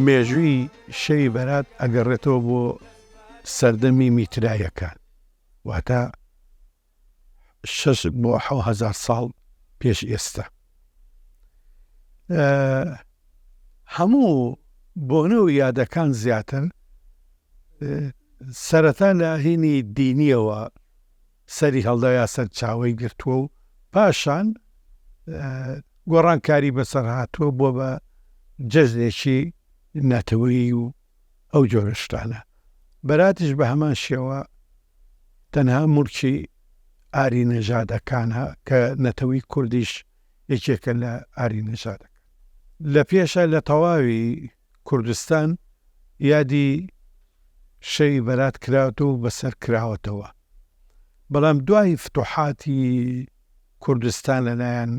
مێژووی شەوی بەرات ئەگەڕێتەوە بۆ سەردەمی میتراییەکان، واتە شەش بۆ حەو هەزار ساڵ پێش ئێستا هەموو بۆنە و یادەکان زیاتر سەرەتا لە هینی دینیەوە سەری هەڵدا یا سەر چاوەی گرتووە و پاشان گۆڕانکاری بەسەر هاتووە بۆ بە جەژنێکی نەتەوەی و ئەو جۆرە شتانە. بەراتیش بە هەمان شێوە تەنها موڵکی ئاری نەژادەکانە کە نەتەوەی کوردیش یەکێکە لە ئاری نەژادەکان. لە پێشە لە تەواوی کوردستان یادی شەوی بەرات کراوەتە و بەسەر کراوەتەوە. بەڵام دوای فتوحاتی کوردستان لە لایەن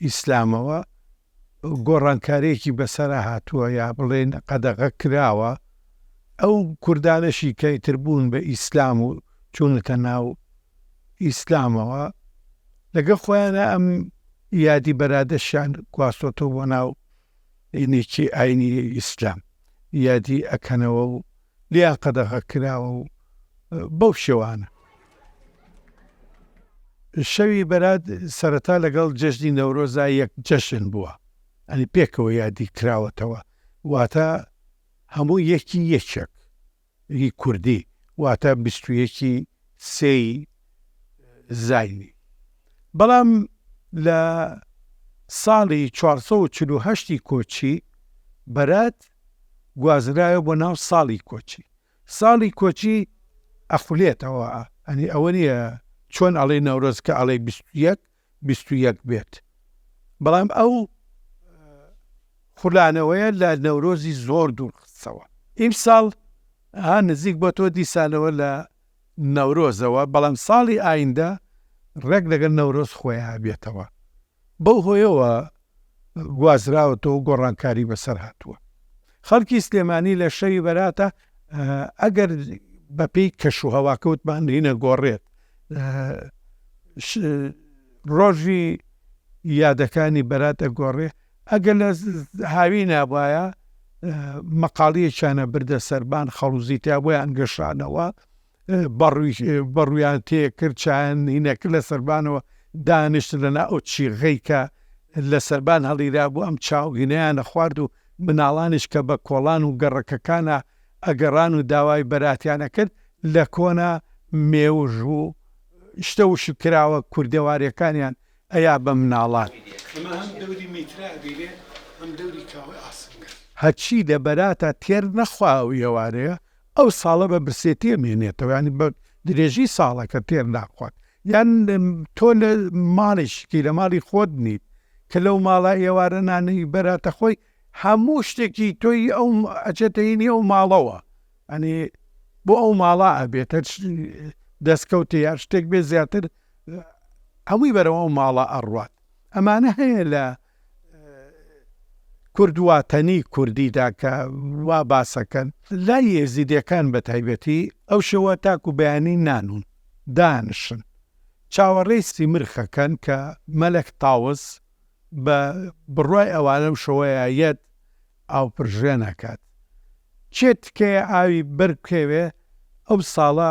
ئیسلامەوە گۆڕانکاریەکی بەسەرا هاتووە یا بڵێن قەدەغە کراوە، ئەو کوردانەشی کە ئیتر بوون بە ئیسلام و چوونەتە ناو ئیسلامەوە لەگەڵ خۆیانە ئەم یادی بەرادەشیان گواستۆتەوە بۆ ناو دینێکی ئاینی ئیسلام یادی ئەکەنەوە و لیا قەدەغە کراوە و بەو شێوانە. شەوی بەرات سەرەتا لەگەڵ جەژنی نەورۆزا یەک جەژن بووە، یانی پێکەوە یادی کراوەتەوە، واتە هەموو یەکی یەکێک ی کوردی، واتە بیست و یەک ی سێ ی زاینی. بەڵام لە ساڵی چوار سەد و چل و هەشت ی کۆچی بەرات، گوازرایەوە بۆ ناو ساڵی کۆچی، ساڵی کۆچی ئەخولێتەوە ئەنی ئەوە نیە چۆن ئەڵێی نەورۆز کە ئەڵێی بیست و یەک بیست و یەک بێت بەڵام ئەو خولانەوەیە لە نەورۆزی زۆر دوور خستەوە ئیم ساڵ ها نزیک بۆ تۆ دیسانەوە لە نەورۆزەوە بەڵام ساڵی ئایندە ڕێک لەگەل نەورۆز خۆیان بێتەوە. بەو هۆیەوە گوازراوەتەوە و گۆڕانکاری بەسەر هاتووە. خەڵکی سلێمانی لە شەوی بەراتە ئەگەر بەپێی کەشوهەواکە وتمان هینە گۆڕێت ڕۆژی یادەکانی بەراتە گۆڕێ ئەگەر لە هاوی نابایە مەقاڵیەکیانە بردە سەربان خەڵوزی تا بۆیان گەشانەوە بەڕوویان تێ کرد، چایانینەکە لە سەربانەوە دانیشت، لە نا ئەو چیغەی کە لە سەربان هەڵیرابوو ئەم چاوگینەیانە خوارد و مناڵانیش کە بە کۆڵان و گەڕەکەکانا ئەگەڕان و داوای بەراتیان ئەکرد لە کۆنا مێوژ و شتە وشک کراوە کوردەواریەکانیان ئەیا بە مناڵان. هەرچی لە بەراتا تێر نەخوا ئەو ئێوارەیە ئەو ساڵە بە برسێتی ئەمێنێتەوە یانی بە درێژی ساڵەکە تێر ناخوات یان تۆ لە ماڵیشکی لە ماڵی خۆت نیت کە لەو ماڵە ئێوارە نانەی بەراتە خۆی هەموو شتێکی تۆی ئەو ئەچێتەینی ئەو ماڵەوە ئەنی بۆ ئەو ماڵە ئەبێتە دەستکەوتی یان شتێک بێ زیاتر هەمووی بەرەوە ئەو ماڵە ئەڕوات ئەمانە هەیە لە کورد واتەنی کوردیدا کە وا باسەکەن لای ئێزیدیەکان بەتایبەتی ئەو شەوە تاکو بەیانی نانون دانشن چاوەڕێی سیمرخەکەن کە مەلەک تاوس بە بڕوای ئەوان ئەو شەوەیە یەت ئاوپرژێن ئەکات کێ تکەیە ئاوی بەر بکەوێ ئەو ساڵە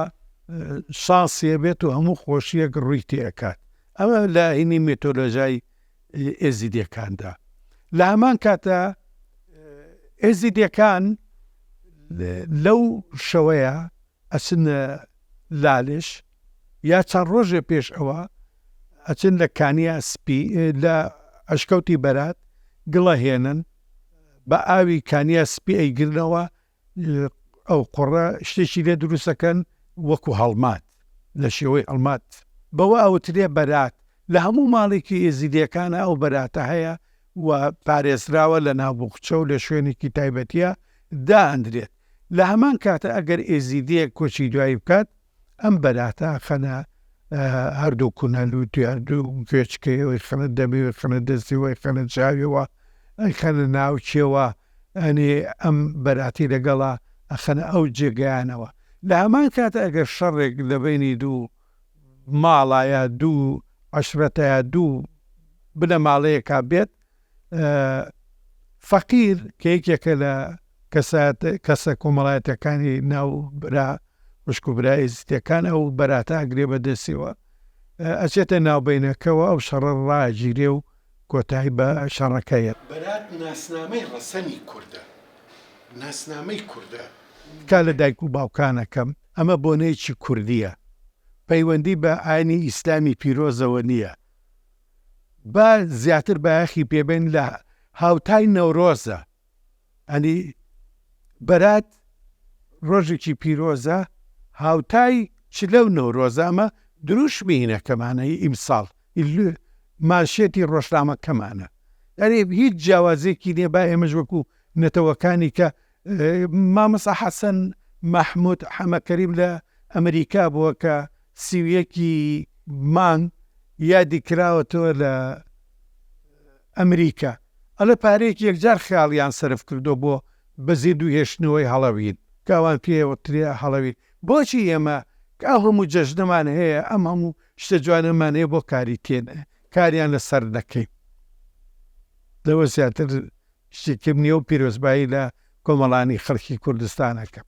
شانسیە بێت و هەموو خۆشیەک ڕووی تێ ئەکات ئەوە لە هینی میتۆلۆژای ئێزیدیەکاندا لە هەمان کاتدا ئێزیدیەکان لەو شەوەیە ئەچنە لالش یا چەند ڕۆژێ پێش ئەوە ئەچن لە کانیا سپی لە ئەشکەوتی بەرات گڵە هێنن بە ئاوی کانیا سپی ئەیگرنەوە ئەوقوڕە شتێکی لێ دروستەکەن وەکو هەڵمات لە شێوەی هەڵمات بەوە ئەوترێ بەرات لە هەموو ماڵێکی ئێزیدیەکانە ئەو بەراتە هەیە و پارێزراوە لە ناوبخچە و لە شوێنێکی تایبەتیە دائەندرێت لە هەمان کاتە ئەگەر ئێزیدیەک کۆچی دوایی بکات ئەم بەراتە ئەخەنە هەردوو کونە لووتی هەردوو گوێچکەی ئەوی خەنە دەمی وی خەنە دەستی وی خەنە چاویەوە ئەی خەنە ناوچێەوە ئەنێ ئەم بەراتی لەگەڵا ئەخەنە ئەو جێگەیانەوە لە هەمان کاتە ئەگەر شەڕێک لە بەینی دوو ماڵا یا دوو عەشرەتە یا دوو بنەماڵەیەکا بێت فەقیر کە یەکێکە لە کەسە کۆمەڵایەتەکانی ناو برا وشک و برای ئێزیتەکان ئەو بەراتە ئەگرێ بە دەستەوە ئەچێتە ناوبینەکەەوە ئەو شەڕە ڕاگیرێ و کۆتایی بە شەڕەکەیە بەرات ناسنامەی ڕەسەنی کوردە ناسنامەی کوردە. تکا لە دایک و باوکان ئەکەم ئەمە بۆنەیەکی کوردییە پەیوەندی بە ئاینی ئیسلامی پیرۆزەوە نییە. با زیاتر بایەخی پێ بەین لە هاوتای نەورۆزە ئەنی بەرات ڕۆژێکی پیرۆزە هاوتای چ لەو نەورۆزە ئەمە دروشمی هینەکەمانەی ئیمساڵ مانشێتی ڕۆژنامەکەمانە ئەرێ هیچ جیاوازێکی لێ با ئێمەش وەکو نەتەوەکانی کە مامۆستا حەسەن مەحمود حەمەکەریم لە ئەمریکا بووە کە سی و یەک ی مانگ یادی کراوەتەوە لە ئەمریکا ئەڵێ پارەیەکی یەکجار خەیاڵیان سەرف کردووە بۆ بەزیندوو هێشتنەوەی هەڵەوین کە ئەوان پێیان وترێ هەڵەوین بۆچی ئێمە کە ئەو هەموو جەژنەمان هەیە ئەم هەموو شتە جوانەمان هەیە بۆ کاری تێ کاریان لەسەر نەکەین لەوە زیاتر شتی تر نیە و پیرۆزبایی لە کۆمەڵانی خەڵکی کوردستان ئەکەم.